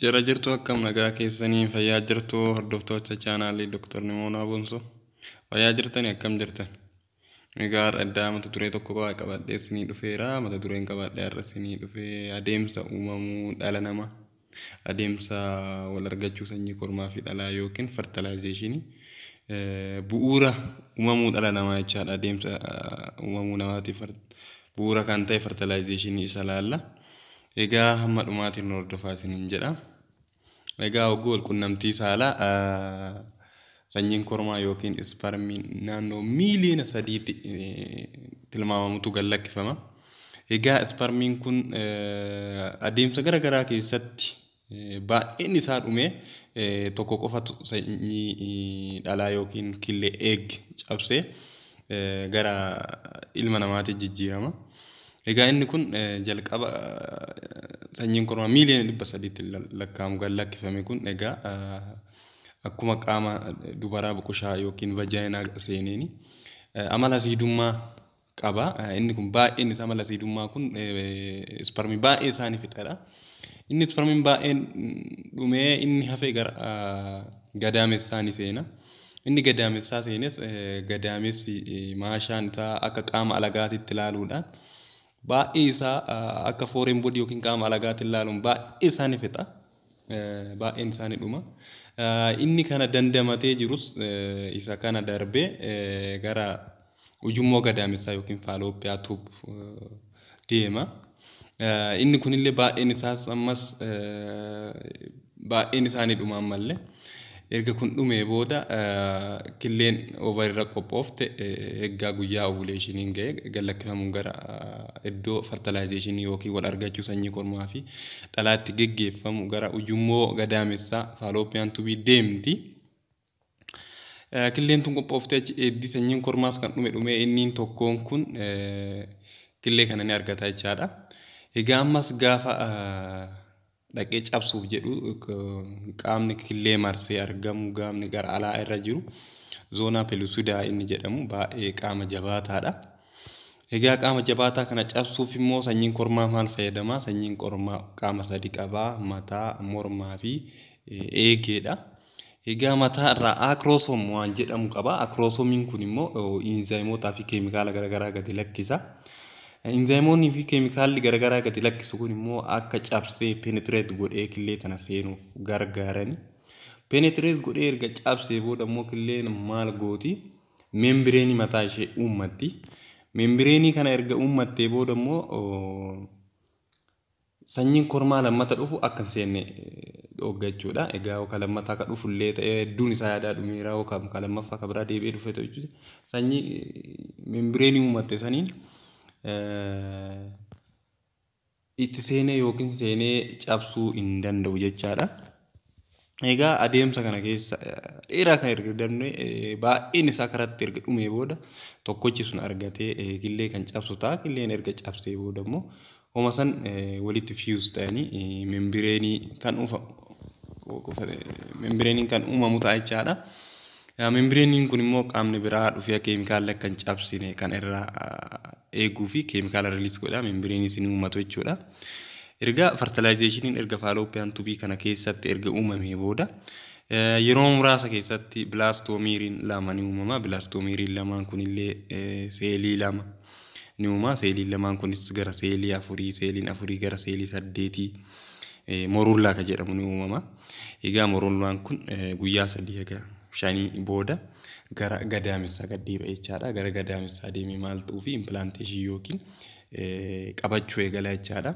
Jira jirtuu akkam nagaa keessanii fayyaa jirtuu hordoftoota chaanaalii Doktar Nimoonaa Bonsoo fayyaa jirtani akkam jirtan egaa har'a iddaa mata duree tokko qofaa qabadhee isinii dhufeera mata dureen qabadhee har'a isinii dhufee adeemsa uumamuu dhala nama adeemsa wal argachuu sanyii kormaa fi dhalaa yookiin fertilization bu'uura uumamuu dhala namaa jechaadha adeemsa uumamuu namaatiif bu'uura kan ta'e fertilizationii isa laalla. Egaa hamma dhumaatiin nu hordofaa isiniin jedha. Egaa hogguu walqunnamtii saalaa sanyiin kormaa yookiin isparmiin naannoo miiliyoona sadiitti tilmaamamutu gad lakkifama. Egaa isparmiin kun adeemsa gara garaa keessatti Baay'een isaa dhumee tokko qofatu sanyii dhalaa yookiin killee, egg, cabsee gara ilma namaatti jijjiirama. Egaa inni kun jalqaba sanyiin kormaa miiliyoona dhibba sadiitti lakkaa'amu gad lakkifame kun egaa akkuma qaama dubaraa buqushaa yookiin vajaayinaa seeneeni amala asiidummaa qaba. Inni kun baay'een isaa mala asiidummaa kun isparmii baay'ee isaa ni fixa jedha. Inni isparmiin baay'een dhumee inni hafe gara gadaamessaa ni seena. Inni gadaamessaa seenes gadaamessi maashaan isaa akka qaama alagaatitti ilaaluudhaan baay'ee isaa akka fooreen bodii yookiin qaama alagaatiin ilaaluun baay'ee isaa ni fixa. baay'een isaa ni dhuma. Inni kana dandamatee jirus isa kana darbee gara ujummoo gadaamessaa yookiin faaloopiyaa tuub deema. Inni kunillee baay'een isaas ammas baay'een isaa ni dhuma ammallee. Erga kun dhumee booda killeen ovarirra qophoofte eggaa guyyaa ovuleeshiniin ga'e gad-lakkifamuun gara iddoo fartalaayizeeshinii ykn wal argachuu sanyii kormaa fi dhalaa itti geggeeffamu gara ujummoo gadaamessaa, fallopian tube, deemti. Killeen tun qophooftee achi eeddii sanyiin kormaas kan dhume dhumee inniin tokkoon kun killee kana ni argata jechaadha. Egaa ammas gaafa dhaqee cabsuuf jedhu qaamni killee marsee argamu gaamni gara alaa irra jiru zoonaa pelusidaa inni jedhamu baay'ee qaama jabaataadha. Egaa qaama jabaataa kana cabsuuf immoo sanyiin kormaa maal fayyadama? Sanyiin kormaa qaama sadi qaba. Mataa, mormaa fi eegeedha. Egaa mataa irraa Acrosome waan jedhamu qaba. Acrosomiin kun immoo inzaayimootaa fi keemikaala garaagaraa gadi lakkisa. Inzaayimoonni fi keemikaalli garaagaraa gadi lakkisu kun immoo akka cabsee penetrate godhee killee tana seenuuf gargaarani. Penetrate godhee erga cabsee booda immoo killeen maal gooti? Membireenii mataa ishee uummatti. Membireenii kana erga uummattee booda immoo Sanyiin kormaa lammata dhufu akka hin seenne dhoogga jechuudha. Egaa yoo ka lammataa ka dhufu illee ta'ee hedduun isaa yaadaa dhumeera yoo ka ka lammaffaa ka biraa deebi'ee dhufee ta'u jechuudha. Sanyii membireenii uumatte saniin itti seenee yookiin seenee cabsuu hin danda'u jechaadha. Egaa adeemsa kana keessa dheeraa kan erga dabne baay'een isaa karatti erga dhumee booda tokkochi sun argatee killee kan cabsu ta'a. Killeen erga cabsee booda immoo homa san walitti fuse ta'anii membireenii kan uufa membireenii kan uumamu ta'a jechaadha. Membireeniin kun immoo qaamni biraa dhufee keemikaalli akka hin cabsine kan irraa eeguu fi keemikaala riliis godha. Membireeniin isin uumatu jechuudha. Erga fartilaayizeeshiniin erga faaloopiyaan tubii kana keessatti erga uumamee booda yeroo muraasa keessatti bilaastoomiriin lama ni uumama. Bilaastoomiriin lamaan kunillee seelii lama ni uuma. Seeliin lamaan kunis gara seelii afurii, seeliin afurii gara seelii saddeetii moruullaa kan jedhamu ni uumama. Egaa morolwaan kun guyyaa sadii haga shanii booda gara gadaamessaa gad deebi'a jechaadha. Gara gadaamessaa deemee maal ta'uufi implantation yookiin qabachuu eegala jechaadha.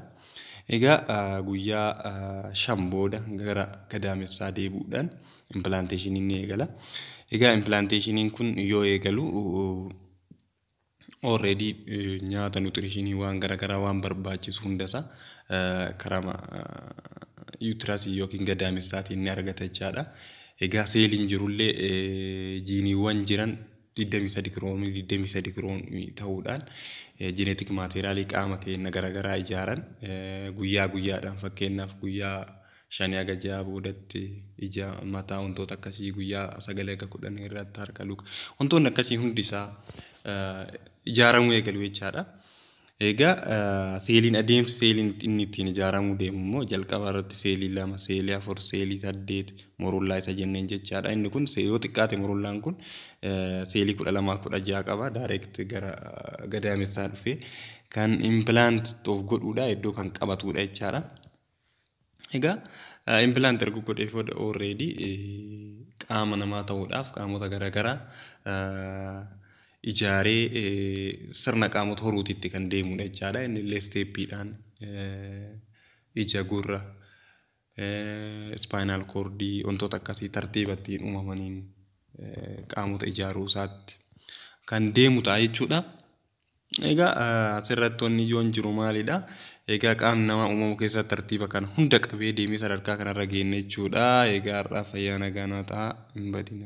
Egaa guyyaa shan booda gara gadaamessaa deebi'uudhaan implantation inni eegala. Egaa implantation kun yoo eegalu already nyaata nutrition waan garagaraa waan barbaachisu hundasa karama uterus yookiin gadaamessaatiin ni argata jechaadha. Egaa seeliin jirullee jiiniiwwan jiran 23 kiroomii 23 kiroomii ta'uudhaan jineetik maateeriyaalii qaama keenya garagaraa ijaaran guyyaa guyyaadhaan fakkeenyaaf guyyaa shanii haga ja'aa boodatti ija, mataa wantoota akkasii guyyaa sagalii haga kudhanii irratti harka, luka wantoonni akkasii hundi isaa ijaaramuu eegalu jechaadha. Egaa seeliin adeemsi seeliin inni ittiin ijaaramuu deemu immoo jalqaba irratti seelii lama, seelii afur, seelii saddeet murullaa isa jenneen jechaadha. Inni kun yoo xiqqaate murullaan kun seelii kudha lamaa kudha ja'a qaba. Daayireekt gara gadaamessaa dhufee kan impilaant of godhuudha iddoo kan qabatuudha jechaadha. Egaa implant erga godhee booda already qaama namaa ta'uudhaaf qaamota garaagaraa ijaaree sirna qaamota horuutiitti kan deemudha jechaadha. Inni illee isteeppiidhaan ija gurra ispaayinaal koordii wantoota akkasii tartiiba ittiin uumamaniin qaamota ijaaruu isaatti kan deemu ta'a jechuudha. Egaa asirratti wanni ijoon jiru maalidha? Egaa qaamni namaa uumamu keessaa tartiiba kana hunda qabee deemee sadarkaa kanarra geenne jechuudha. Egaa har'aaf fayyaa nagaa naa ta'a hin badina.